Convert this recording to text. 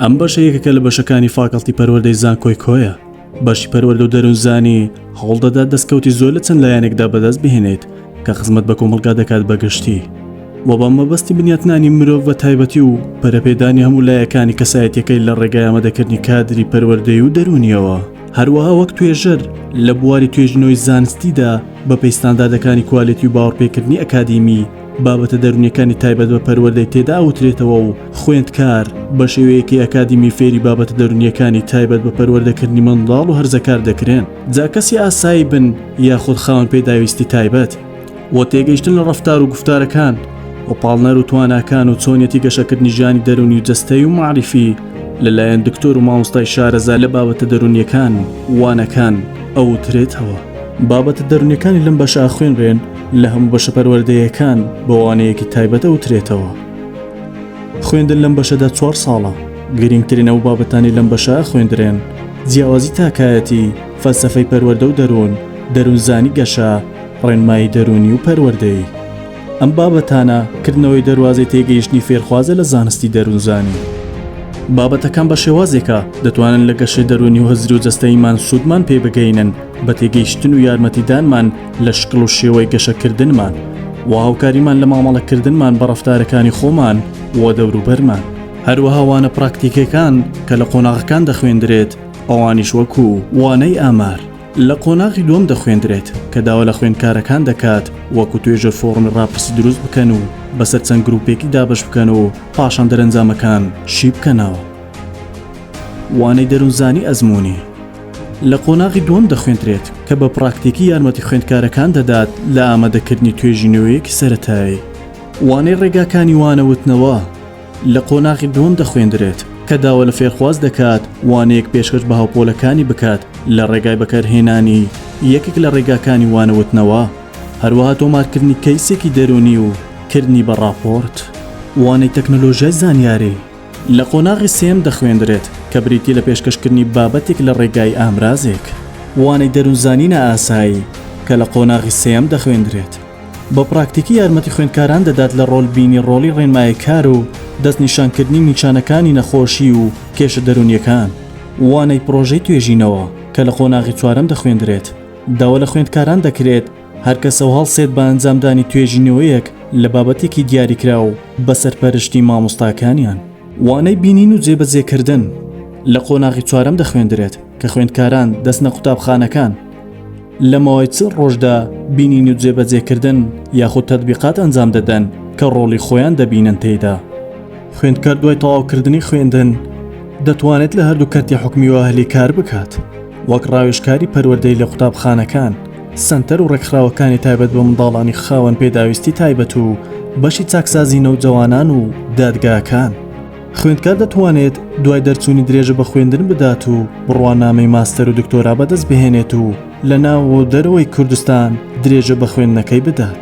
ئەم بەشە یەکەکە لە بەشەکانی فاکەڵتی پەروەردەی زانکۆی کۆیە بەشی پەروەەردە و دەروونزانی هەوڵ دەدات دەستکەوتی زۆر لە چەند لایەنێکدا بەدەست بهێنێت کە خزمەت بە کۆمەلگا دەکات بەگشتی و بە مەبەستی بنیاتنانی مرۆڤ بە تایبەتی و پەرەپێدانی هەموو لایەکانی کەسایەتەکەی لە ڕێگای ئەمەدەکردنی کادری پەروەردەی و دەرونیەوە هەروەها وەک توێژەر لە بواری توێژینەوەی زانستیدا بە پێی ستانداردەکانی کوالێتی و باوەڕپێکردنی ئەکادیمی، بابەتە دەروونیەکانی تایبەت بە پەروەردەی تێدا ئەوترێتەوە و خوێندکار بە شێوەیەکی ئەکادیمی فێری بابەتە دەروونیەکانی تایبەت بە پەروەردەکردنی منداڵ و هەرزەکار دەکرێن جا کەسی ئاسایی بن یاخود خاوەن پێداویستی تایبەت. بۆ تێگەیشتن لە ڕەفتار و گفتارەکان و پاڵنەر و تواناکان و چۆنیەتی گەشەکردنی ژیانی دەرونی و جەستەی و معریفی لەلایەن دکتۆر و مامۆستای شارەزا لە بابەتە دەرونیەکان وانەکان ئەوترێتەوە. بابەتە دەرونیەکانی لەم بەشە ئەخوێنرێن لە هەموو بەشە پەروەردەیەکان بە وانەیەکی تایبەت ئەوترێتەوە. خوێندن لەم بەشەدا چوار ساڵە گرینگترین ئەو بابەتانی لەم بەشە ئەخوێندرێن جیاوازی تاکایەتی، فەلسەفەی پەروەردە و دەرون، دەرونزانی گەشە، ڕێنمایی دەروونی و پەروەردەیی، ئەم بابەتانە کردنەوەی دەروازەی تێگەیشتنی فێرخوازە لە زانستی دەروونزانی. بابەتەکان بە شێوازێکە دەتوانن لە گەشەی دەروونی و هزری و جەستەییمان سوودمان پێ بگەینن بە تێگەیشتن و یارمەتیدانمان لە شکڵ و شێوەی گەشەکردنمان و هاوکاریمان لە مامەڵەکردنمان بە ڕەفتارەکانی خۆمان و دەوروبەرمان. هەروەها وانە پراکتیکیەکان کە لە قۆناغەکان دەخوێندرێت ئەوانیش وەکوو، وانەی ئامار، لە قۆناغی دووەم دەخوێندرێت کە داوا لە خوێندکارەکان دەکات وەکو توێژەر فۆڕمی ڕاپرسی دروست بکەن و بەسەر چەند گروپێکی دابەش بکەن و پاشان دەرەنجامەکان شی بکەنەوە. وانەی دەروونزانی ئەزموونی لە قۆناغی دووەم دەخوێندرێت کە بە پڕاکتیکی یارمەتی خوێندکارەکان دەدات لە ئامادەکردنی توێژینەوەیەکی سەرەتایی. وانەی ڕێگاکانی وانە وتنەوە، لە قۆناغی دووەم دەخوێندرێت. کە داوا لە فێرخواز دەکات وانەیەک پێشکەش بە هاوپۆلەکانی بکات لە ڕێگای بەکارهێنانی یەکێک لە ڕێگاکانی وانەوتنەوە، هەروەها تۆمارکردنی کەیسێکی دەروونی و کردنی بە ڕاپۆرت. وانەی تەکنەلۆژیای زانیاری لە قۆناغی سێیەم دەخوێندرێت، کە بریتییە لە پێشکەشکردنی بابەتێک لە ڕێگای ئامرازێک. وانەی دەروونزانی نائاسایی، کە لە قۆناغی سێیەم دەخوێندرێت. بە پراکتیکی یارمەتی خوێندکاران دەدات لە ڕۆل بینی ڕۆڵی ڕێنمای کار و دەست نیشان کردنی نیچانەکانی نەخۆشی و کێشە دەروونیەکان. وانەی پرۆژەی توێژینەوە کە لە قۆناغی چوارەم دەخوێندرێت داوا لە خوێندکاران دەکرێت هەر کەسەو هەڵسێت بە ئەنجامدانی توێژینەوەیەک لە بابەتێکی دیاریکراو بە سەرپەرشتی مامۆستاکانیان. وانەی بینین و جێبەجێ کردن لە قۆناغی چوارەم دەخوێندرێت کە خوێندکاران دەچنە قوتابخانەکان، لە ماوەی چل ڕۆژدا بینین و جێبەجێکردن یاخود تەتبیقات ئەنجام دەدەن کە ڕۆڵی خۆیان دەبینن تێیدا. خوێندکار دوای تەواوکردنی خوێندن دەتوانێت لە هەردوو کەرتی حکومی و ئەهلی کار بکات، وەک ڕاوێژکاری پەروەردەی لە قوتابخانەکان، سەنتەر و ڕێکخراوەکانی تایبەت بە منداڵانی خاوەن پێداویستی تایبەت و بەشی چاکسازی نەوجەوانان و دادگاکان. خوێندکار دەتوانێت دوای دەرچوونی درێژە بە خوێندن بدات و بڕوانامەی ماستەر و دکتۆرا بەدەست بهێنێت و لە ناو و دەرەوەی کوردستان درێژە بە خوێندنەکەی بدات.